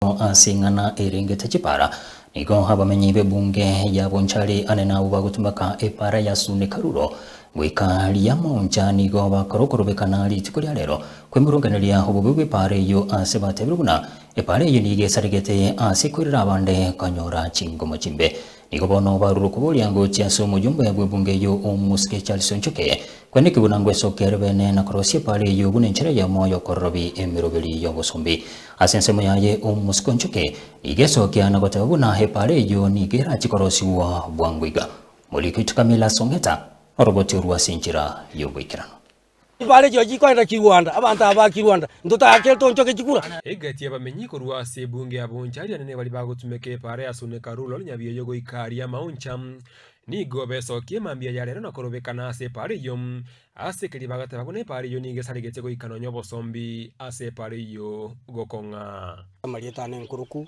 Bono ase eng'ana erengete chipara, nigo abamenyi b'ebunge ya Bonchari ane nabwo bagotumeka epara ya Sune Karuro goika Riamoncha nigo bakora okorobekana rituko ria rero kw'emoronganeria obobe bw'epara eyio ase batebire buna epara eyio nigo esaregete ase koirera abande konyora chingomo chimbe Nigo bono barure okobua oriangochia ase omoyomba ya bwebunge eyio omosike Charles Onchoke, kore nekio buna ngwesokia are beene na korosia epaara eyio buna enchera ya omoyo okororobi emeroberi y'obosombi. Ase ensemo yaye omosike Onchoke nigo esokia na goteba buna epaara eyio nigo erachi korosigwa bwango iga. Morikiti Camillus Ong'eta, Oroboti orwo ase enchera y'ogoikeranu. Bare chirochio koenda chirwanda, abanto aba ba kirwanda, ntotaake tonchoke chikura. Egati y'abamenyi korwa ase ebunge y'aboncha aria nene baria bagotumeka epaara ya Suneka Rulal Nyabioyo goika aria amaoncha, nigo besokie mambia ya rero na korobekana ase epaara eyio. Ase keria bagateba buna epaara eyio nigo esaregete goika nonya obosombi ase epaara eyio gokong'a. Amarieta ane enkuruku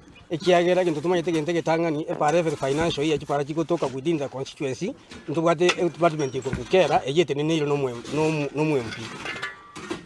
ekiagera gento tomanyete gento egetang'ani, epaara every financial year chipaara chigotoka within the constituency, ntobwate edepartment ekorokwa kera, eyio eteneneirwe na omoe na omo na omwMP.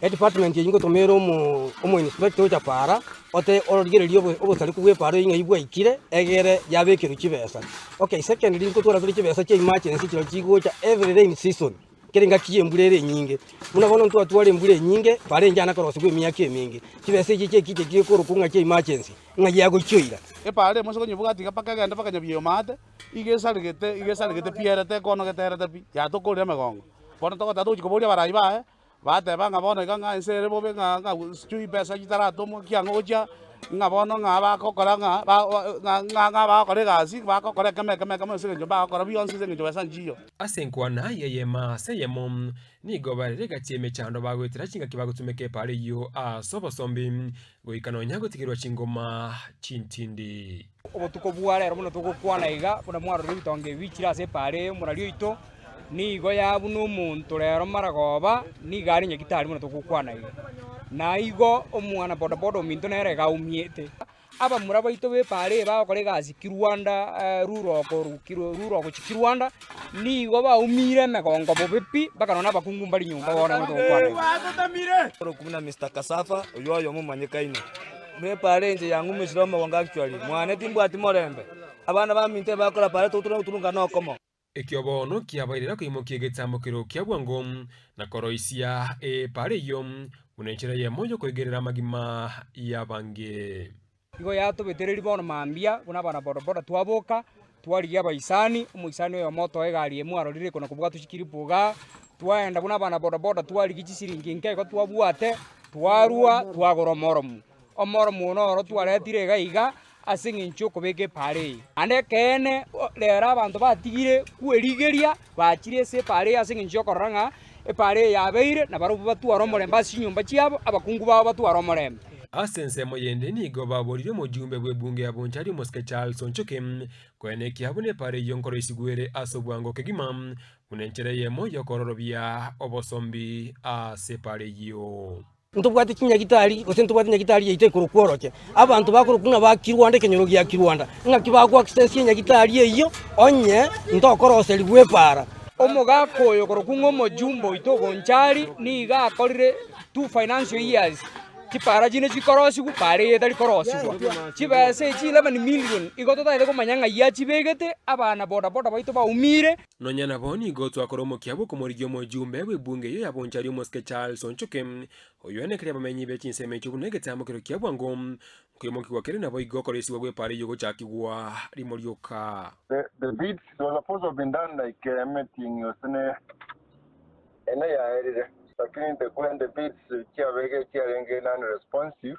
Edepartment eyio ngotoma ere omo omoinspector ocha paara, ote origererie obo obosariku bw'epaara eyio ng'ai bwaikire, egere yabekerwa chibesa. Okay, secondly, nkotwara tore chibesa chia emergency chirochio chigocha every rainy season. Kera engaki y'embura ere enyinge, buna bono ntwatware embura enyinge barenge aana korosegwa emiaka emenge, chibesa echi chi'ekiche chigekorokwa ng'a chi'emergency, ng'a ya gochioira. Epaara emo ase konyebuga tiga mpaka egende mpaka nyabioma aate, iga esaregete, iga esaregete pi ere tekonogete erete pi, yatokorire emegongo. Bono togotaka togochia kobooria abarai baye, bateba ng'a bono iga ng'a ense ere bobe ng'a ng'a sijui besa chitaratomwa ki ang'e gochia, ng'a bono ng'a bagokora ng'a ba ng'a ng'a ng'a bagokora egasi, bagokora ekemo ekemo ekemo ase eng'encho mbagokora bionsi ase eng'encho besa nchiyo. Ase enkwana y'eyema ase eyemo nigo bare rigachia emechando bagoetera chingaki bagotumeka epaaro eyio ase obosombi goika nonya gotigerwa chingoma chintindi. Obotuko bwa rero buna togokwana iga, buna mwarorire ebitonga ebi bichire ase epaaro eye mbuna rioito, nigo yabuna omonto rero mara goba nigo are nyagitari buna togokwana iga. Na igo omwana bodaboda ominto nere iga aumiete. Abamura baito b'epaari bagokora egasi kirwanda rure okorukirwe rure ogochia kirwanda, nigo baumiire emegongo bobe pi, bakarora nabakungu mbari nyomba bono abana togokwana. Oroku buna Mister Cassava, oyio oyomo omonyekaine. Buna epaari enche yang'umesire omogongo actually. Mwane timbwati morembe. Abana baminto ebagokorapaare togoturana goturungana okomo. Ekio bono kiabaire nakoimokia egetambokero kia bwango, na koroisia eepara eyio, buna enchera eyemo y'okoigerera amagima y'abange. Nigo yatobetereiri bono mambia buna abanabodaboda twaboka twarigia abaisani omoisani oyomo otoa egari emo arorire iko nakobwatwa chikiripu igaa twaenda buna abanabodaboda twarigia chisiringi nke igo twabwate twarua twagora omoromo Omormuna oro twaretire iga iga ase engencho y'okobeka epaara eye. Naende ekeene rero abanto batigire kwerigeria bachire ase epaara eye ase engencho y'okorora ng'a epaara eye yabeire, na barabwo batware omorembe ase chinyomba chiabo, abakungu babo batware omorembe. Ase ensemo eyende nigo baboorire omojumbe bw'ebunge ya Bonchari omosike Charles Onchoke koena ekiya buna epaara eyio nkoroisigwere ase obwango kegima buna enchera eyemo y'okororobia obosombi ase epaara eyio. Ntobwate chinyagitari, gose ntobwate nyagitari yaito ekorokwa oroche. Abanto bakorokwa ng'a ba kirwanda ekenyoro gia kirwanda. Ng'aki bagoaccessie enyagitari eyio onye ntokoroserigwa epaara? Omogaka oyo okorokwa ng'a omojumbe oito o Bonchari nigo akorire two financial years chipaara chinde chikorosigwa paara eye etari korosigwa. Chibesa echi eleven million igo totaete komanya ng'ai achibegete, abana bodaboda baito baumiire. Nonya nabo nigo twakora omokia bw'okomorigia omojumbe bw'ebunge eyio ya Bonchari omosike Charles Onchoke, oyio anekire abamenyi be chinsemo echio buna egetambo keria kia bwango, nkoimokigwa kere naboigo okoresigwa gw'epaara eyio ogochakigwa rimo rioka. The the deed it was supposed to have been done like a meeting ase ne ene yaerire lakini the when the bids chiabege chiarenge non responsive